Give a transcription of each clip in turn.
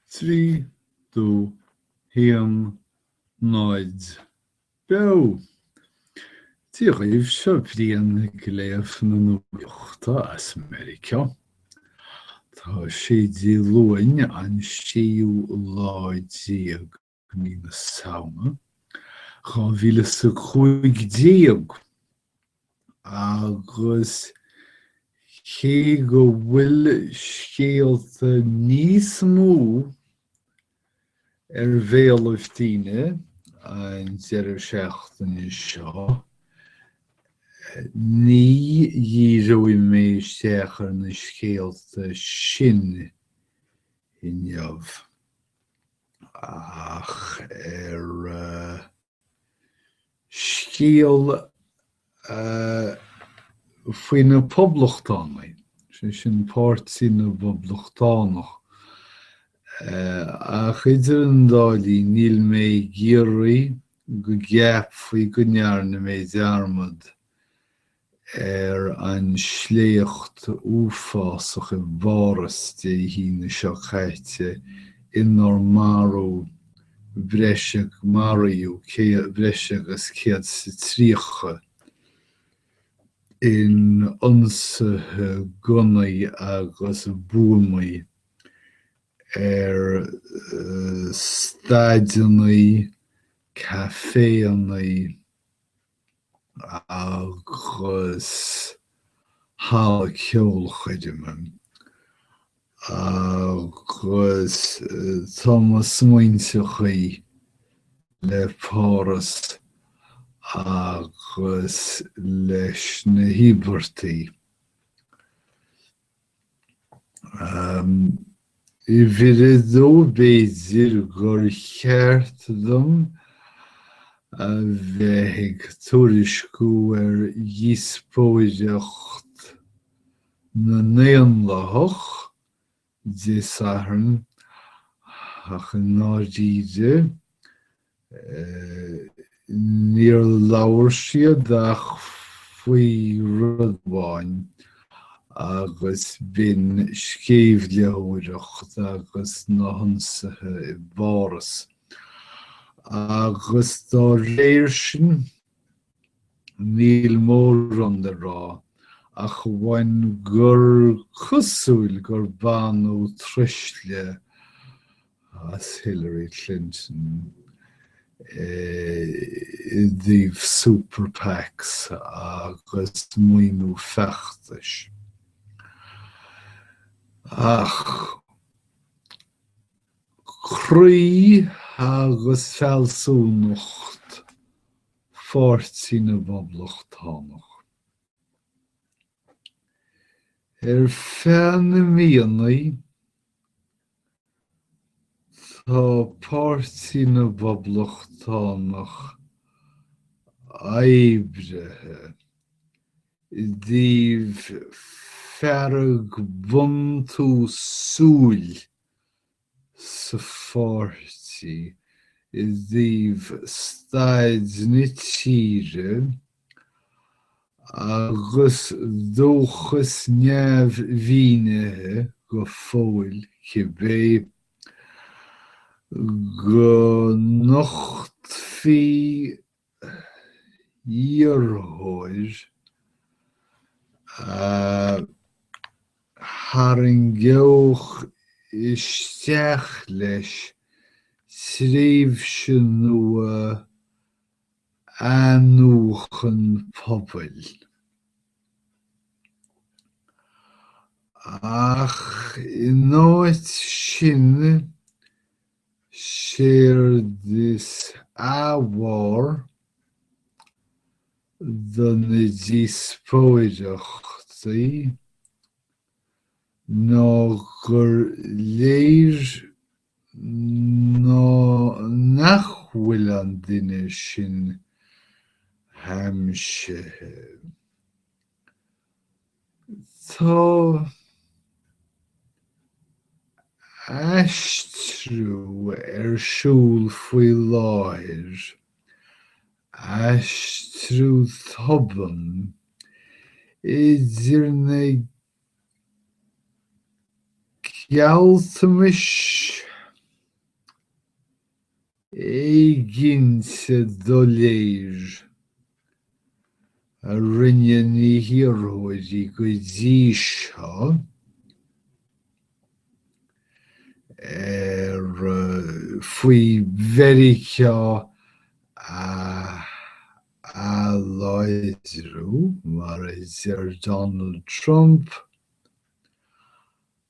3 do 1 0 beo! Dia dhaoibh, seo Brian ag léamh na nuachta as Meiriceá. Tá sé Dé Luain an séú lá déag. i mí na Samhna 2015, agus cé go bhfuil scéalta níos mó ar bhéalaibh daoine an deireadh seachtaine seo, ní dhíreoidh mé isteach ar na scéalta sin inniu. Ach ar scéal faoi na Poblachtánaigh, sé sin Páirtí na bPoblachtánach, ach idir an dá linn níl mé ag iarraidh go gceapfaí go ndearna mé dearmad ar an sléacht uafásach i bPáras Dé hAoine seo caite inar marú breis ag maraíodh breis agus céad is tríocha in ionsaithe gunnaí agus buamaí ar staideanna, caiféanna, agus halla ceolchoirme agus tá mo smaointe le Páras agus leis na híobartaigh. Uimhir a dó, b'fhéidir gur cheart dom a bheith ag tuairisciú ar dhíospóireacht na nDaonlathach Dé Sathairn, ach i ndáiríre, Níor labhair siad ach faoi rud amháin agus b'in sceimhlitheoireacht agus na hionsaithe i bPáras. Agus dá réir sin, Níl mórán le rá ach amháin gur cosúil gur baineadh truisle as Hillary Clinton i dtaobh Super Pacs agus maoiniú feachtais. Ach croí agus fealsúnacht Pháirtí na bPoblachtánach. Ar feadh na míonnaí tá Páirtí na bPoblachtánach oibrithe i dtaobh fearg buntúsúil sa pháirtí i dtaobh staid na tíre agus dóchas neamh-mhínithe go fóill cibé go nochtfaidh iarrthóir a tharraingeodh isteach leis tréimhse nua athnuachan pobail. Ach in áit sin, Séard is ábhar do na díospóireachtaí ná gur léir ná nach bhfuil an duine sin aimsithe. Tá aistriú ar siúl faoi láthair, aistriú tobann, idir na gealltanais éiginnte doiléir a rinne na hiarrthóirí go dtí seo ar faoi Mheiriceá a a láidriú, mar a deir Donald Trump,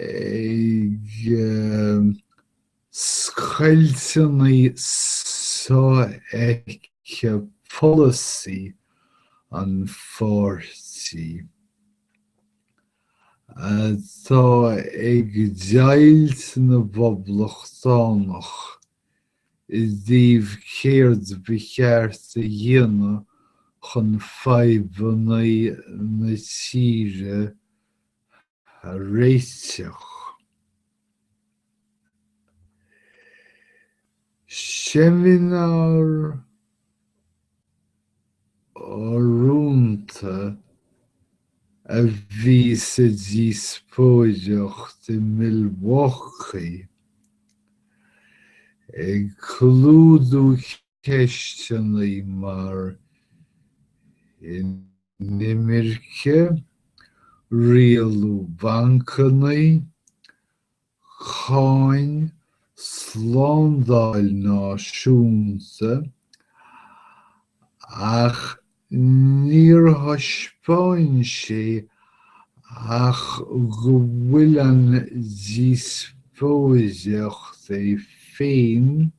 ag scoilteanna so-fheicthe polasaí an pháirtí, atá ag deighilt na bPoblachtánach i dtaobh céard ba cheart a dhéanamh chun fadhbanna na tíre a réiteach. Seimineár urrúnta a bhí sa díospóireacht i Milwaukee ag clúdú ceisteanna mar inimirce, rialú bancanna, cáin, slándáil náisiúnta, ach níor thaispeáin sé ach go bhfuil an díospóireacht é féin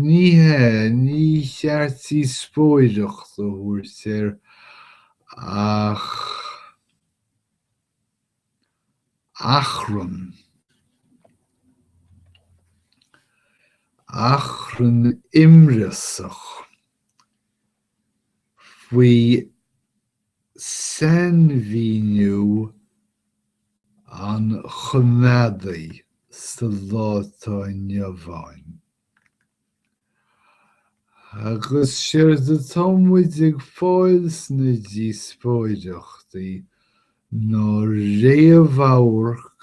Ní hea, ní cheart díospóireacht a thabhairt air ach achrann. Achrann imreasach faoi Sainmhíniú an choimeádaí sa lá atá inniu ann. Agus séard atá muid ag fáil sna díospóireachtaí ná réamhamharc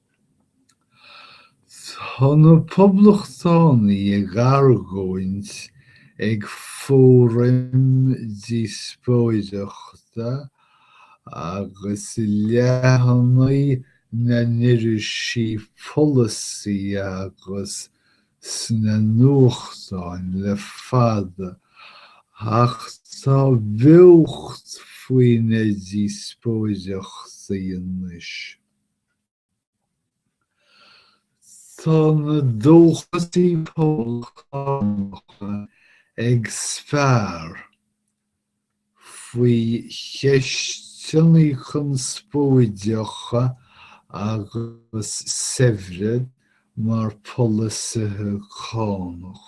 Tá na Poblachtánaigh ag argóint ag fóram díospóireachta agus i leathanaigh na n-irisí polasaí agus sna nuachtáin le fada ach tá beocht faoi na díospóireachtaí anois. Tá na dóchasaithe poblachtánacha ag spear faoi cheisteannaí conspóideacha agus saibhre mar polasaithe cánach.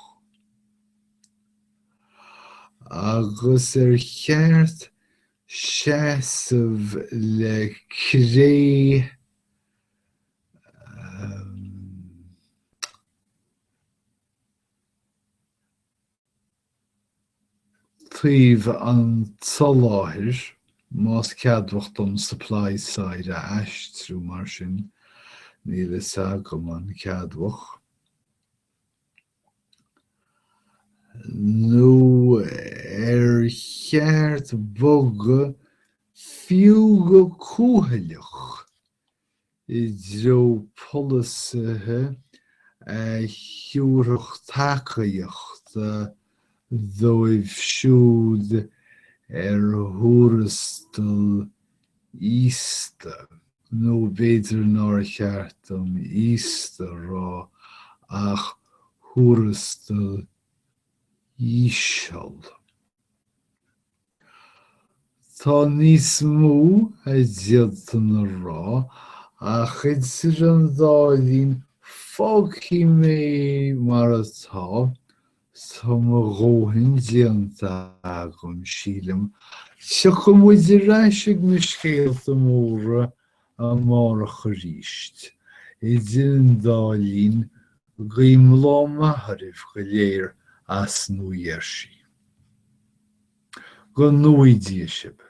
Agus ar cheart seasamh le cré taobh an tsoláthair, más ceadmhach dom supply side a aistriú mar sin, níl fhios agam an ceadmhach. nó ar cheart bogadh fiú go cúthaileach i dtreo polasaithe a thiúrfadh tacaíocht dóibh siúd ar thuarastal íosta, nó b'fhéidir nár cheart dom íosta a rá ach thuarastal íseal. Tá níos mó a d'fhéadfainn a rá ach idir an dá linn fágfaidh mé mar atá Tá mo dhóthain déanta agam, sílim. Tiocfaidh muid ar ais ag na scéalta móra amárach aríst. Idir an dá linn, guím lá maith oraibh go léir as Nua Gheirsí. Go ngnóthaí Dia sibh.